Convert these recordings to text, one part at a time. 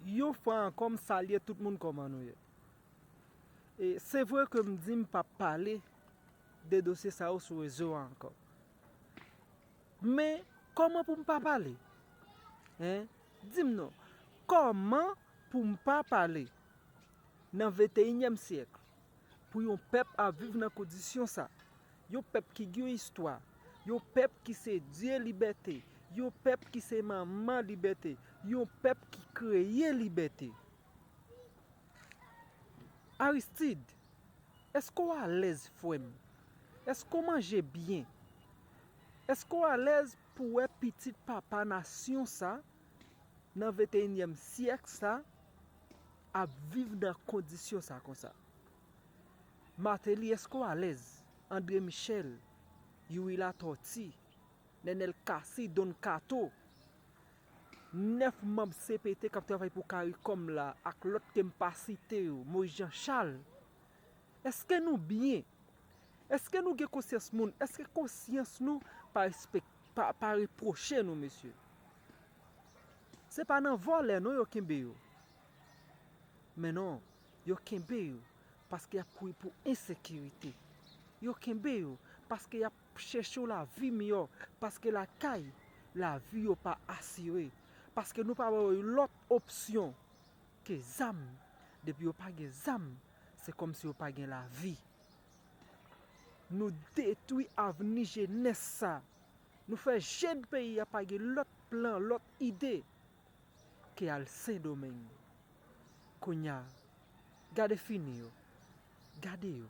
Yon fwa ankò m salye tout moun kòman nou ye e se vre ke m di m pap pale de dosye sa yo sou rezo a ankò men kòman pou m pa pale hein di m non kòman pou m pa pale nan venteyinyèm syèk pou yon pèp ap viv nan kondisyon sa. Yon pèp ki gen yon istwa, yon pèp ki se dye libète, yon pèp ki se manman libète, yon pèp ki kreye libète. Aristid, eske w alèz frè m? Eske w manje byen? Eske w alèz pou wè pitit papa nasyon sa? nan venteyinyèm syèk sa ap viv nan kondisyon sa konsa. Martelly eske w alèz? André Michel, Youri Latortue, Nenel Cassy, Don Kato, 9 manb cpt k ap travay pou caricom la ak lòt ke m pa site yo, Moïse Jean Charles, Eske nou byen? Eske nou gen konsyans moun? Eske konsyans nou pa repwoche nou mesye? Se pa nan vòlè non yo kenbe yo. Men non, yo kenbe yo paske y ap kouri pou ensekirite. Yo kenbe yo paske y ap chèche yon lavi miyò. Paske lakay, lavi yo pa asire. Paske nou pa ba yo yon lòt opsyon. Ke zam, depi yo pa gen zam, se kòm si yo pa gen lavi. Nou detwi avni jenès sa. Nou fè jèn peyi a pa gen lòt plan, lòt ide, ke al Sendomeng. Kounya, gade fini yo. Gade yo.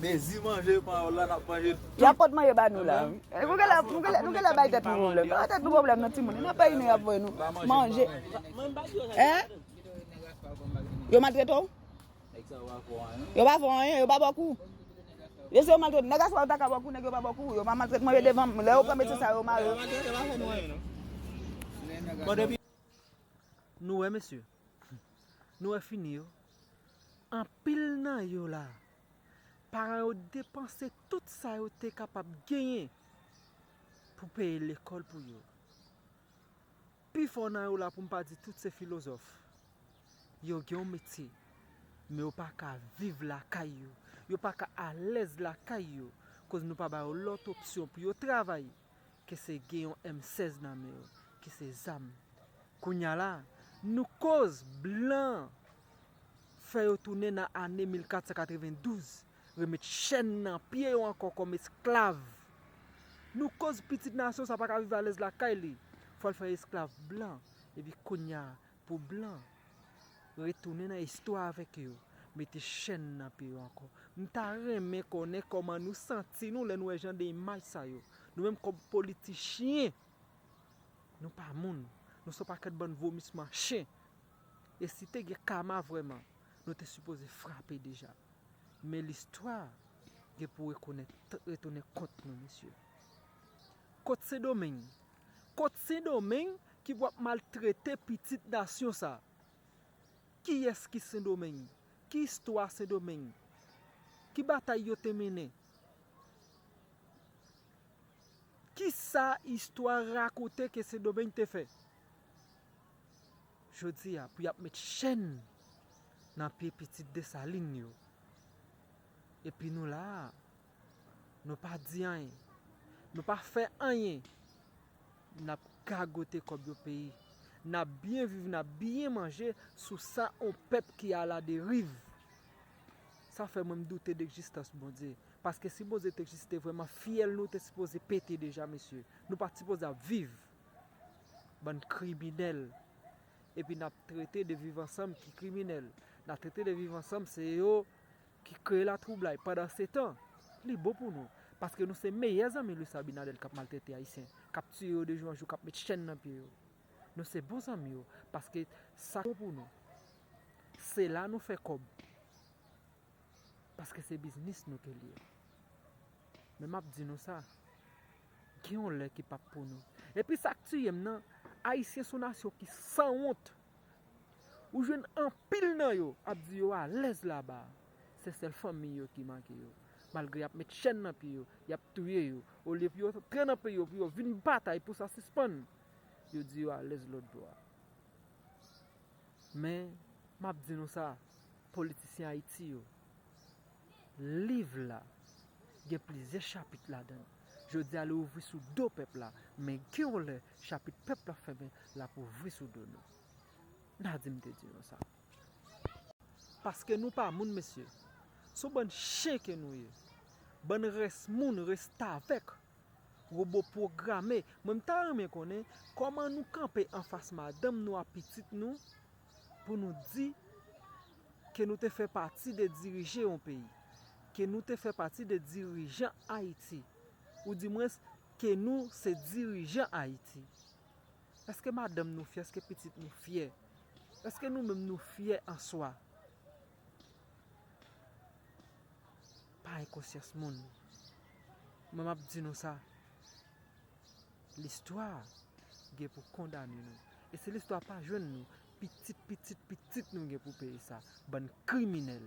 Mezi manje panyòl la nap manje tout. Yap pot manje ba nou la wi. Nou genlè bay tèt nou pwoblèm. Bay tèt nou pwoblèm nan timoun. Nan peyi nou yap voye nou manje. Yo maltrete w? Yo pa fè w anyen? Yo pa ba w kou? Yo se yo maltrete w? Nèg aswa yo ta ka ba w kou nèg yo pa ba w kou? Yo pa maltrete manje devan m? Lè yo pran metye sa yo mare w? Nou wè mesye? Nou wè fini yo? Anpil nan yo la, paran yo depanse tout sa yo te kapab genyen pou peye lekòl pou yo. Pifò nan yo la, pou m pa di tout, se filozòf. Yo gen yon metye, men yo pa ka viv lakay yo. Yo pa ka alèz lakay yo, koz nou pa ba yo lòt opsyon pou yo travay. ke se gen yon M 16 nan men yo, ki se zam. Kounya la, nou koz blan fè yo tounen nan ane 1492, remèt chèn nan pye yo ankò kòm esklav. Nou koz pitit nasyon sa pa ka viv alèz lakay li, fò l fè esklav blan. Epi kounya, Pou blan. Retounen nan istwa avèk yo. Mete chèn nan pye yo ankò. M ta renmen konnen kòman nou santi nou lè nou wè jan de imaj sa yo. Nou menm kòm politichyen, nou pa moun. Nou son pakèt bann vomisman chen. E si te gen kama vrèman, nou te sipoze frape deja. Men listwa gen pou rekonèt, retounen kont nou mesye. Kot Sendomeng? Kot sendomeng ki pou ap maltrete pitit nasyon sa. Kiyes ki sendomeng? Ki istwa sendomeng? Ki batay yo te mennen? Kisa istwa rakote ke sendomeng te fè? Jodi a pou yap met chèn nan pye pitit desalin yo. Epi nou la a. Nou pa di anyen. Nou pa fè anyen. Nap gagote kòb yon peyi. Nap byen viv, nap byen manje sou sa yon pèp ki ala deriv. Sa fè mwen m doute de egzistans Bondye. Paske si Bondye te egziste vreman, fyèl nou te sipoze pete deja mesye. Nou pat sipoze ap viv. Bann kriminèl. Epi nap trete de viv ansanm ki kriminèl. Nap trete de viv ansanm se yo. ki kreye latwoublay pandansetan li bon pou nou paske nou se meyè zanmi Luis Abinader kap maltrete ayisyen kap tiye yo de jou an jou kap met chèn nan pye yo nou se bon zanmi yo paske sak bon pou nou se la nou fè kòb paske se biznis nou ke liye men map di nou sa gen yon lè ki pap pou nou epi sak tiyem nan ayisyen son nasyon ki sanwont. Ou jwenn anpil nan yo ap di yo alèz laba a. Se sèl fanmiy yo ki manke yo. Malgre y ap met chèn nan pye yo, y ap touye yo, olye pou yo antre nan peyi yo pou yo vin batay pou sa sispann, yo di yo alèz lòtbò a. Men, m ap di nou sa, politisyen Ayiti yo. Liv la gen plizyè chapit ladan l. Jodi a li ouvri sou do pèp la, men gen yon lè chapit pèp la fèmen l ap ouvri sou do nou. N a di m te di nou sa. Paske nou pa moun mesye. Se yon bann chen ke nou ye. Bann rès moun, restavèk, wobo pwograme. Mwen m ta renmen konnen kòman nou kanpe anfas madanm nou ak pitit nou pou nou di ke nou te fè pati de dirije yon peyi, ke nou te fè pati de dirijan Ayiti, ou di mwens ke nou se dirijan Ayiti. Eske madanm nou fyè, eske pitit nou fyè, eske nou menm nou fyè an swa? Pa enkonsyans moun. Mwen map di nou sa, Listwa gen pou kondane nou. E si listwa pa jwenn nou, pitit pitit pitit nou gen pou peye sa. Bann kriminèl!